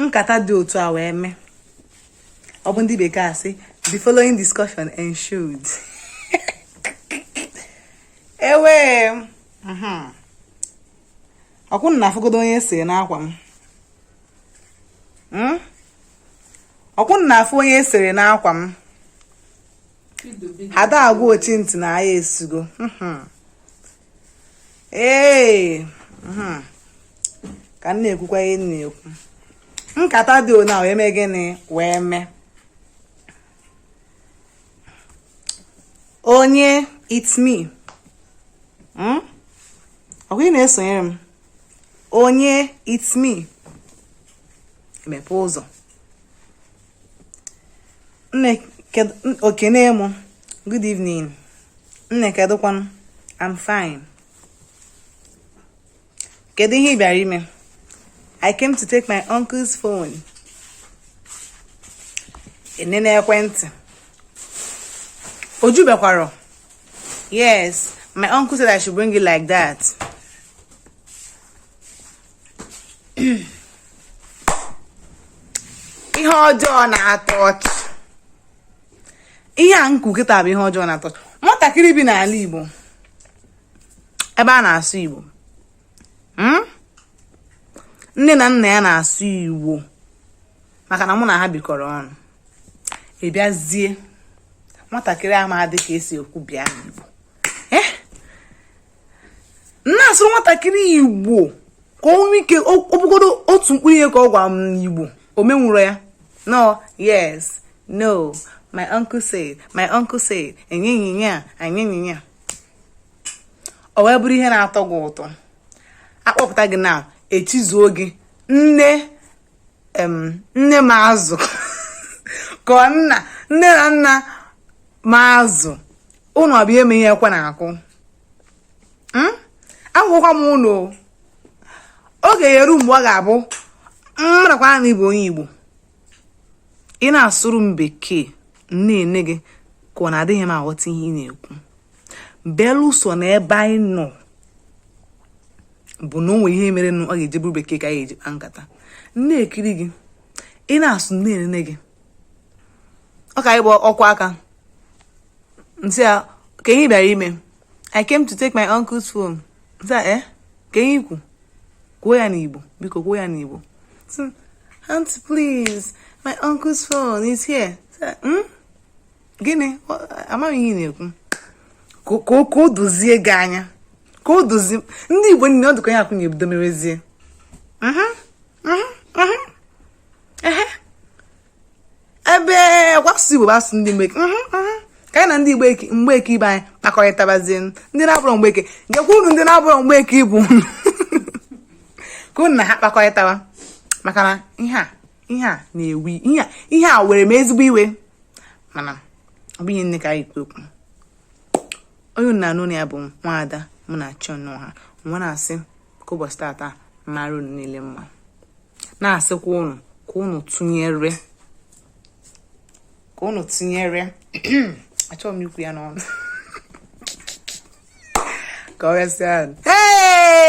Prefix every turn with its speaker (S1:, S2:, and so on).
S1: nkata dị otu a wee mee ọ bụ ndị bekee asị the following discussion ensued ewe mhm. okwu na-afụgodo onye e sere n'akwa m hmm? okwu na-afụ onye e sere n'akwa m ada agwa ochi ntị na aya esugo mhm. ee mhm. ka m na-ekwukwa ihe m na-ekwu nkata dị ona wee mee gịnị wee mee onye it's me hmm? ọkwa ị na-esonyere m onye it's me mepee ụzọ o kene m good evening nne kedụkwanụ I'm fine kedu ihe ị bịara ime I came to take my uncle's phone enene ekwentị o jubekwarọ yes my uncle said I should bring it like that ihe ọjọọ na-atọ ọchị ihe a m kwu kịta bụ ihe ọjọọ na-atọ ọchị nwatakịrị bi n'ala Igbo ebe a na-asụ Igbo hmm? nne na nna ya na-asụ Igbo maka na mụ na ha bikọrọ ọnụ ị bịazie nwatakịrị amadị ka e si ekwu bịa n'Igbo na-asụrụ nwatakịrị igbo ka o nwee ike ọ bụgodo otu mkpụrụ ihe ka ọ gwa m n'igbo o menwurọ ya no yes no my uncle said my uncle said enyenyinya enyenyinya o wee bụrụ ihe na-atọ gị ụtọ a kpọpụta gị na echizuo gị nne nne m azụ ka nna nne na nna m azụ ụnụ abịa ama ihe ekwe na-akụ hmm? agwakwa m ụnụ oge ya-eru mgbe ọ ga-abụ m marakwa na ị bụ onye Igbo ị na-asụrụ m bekee m na-ene gị ka ọ na adịghị m aghọta ihe ị na-ekwu belụsọ na ebe anyị nọ bụ na o nwere ihe mere na ọ ga-eji bụrụ bekee ka anyị eji kpa nkata m na-ekiri gị ị na-asụ na-enene gị ọ ka anyị bụ ọkwa aka m sị ya kee ihe ị bịara ime i came to take my uncle's phone m sị ya eh kee ihe i kwu kwuo ya n'igbo biko kwuo ya n'igbo aunty please my uncle's phone is here hmm? gịnị amaghị m ihe ị na-ekwu ka o dozie gị anya ka o dozie ndị igbo niile ọ dịka ya akwụnye ebido merezie ebe ọ bụ asụsụ igbo bụ asụsụ ndị mgbeke mhm, mhm. ka anyị na ndị igbo mgbeke ibe anyị kpakọrịtabazie ndị na-abụrọ mgbeke gekwa unu ndị na-abụrọ mgbeke ibe ka unu na ha kpakọrịtawa maka na ihe a ihe a na-ewi ihe a were m ezigbo iwe mana ọ bụghị ihe niile ka anyị kwu okwu onye unu na-anụ olu ya bụ nwaada munachi ọnụọha wee na-asị ka ụbọchị tata mara unu niile mma na-asịkwa unu ka unu tụnyere ka unu tụnyere achọghị m ikwu ya n'ọnụ ka ọ gasịa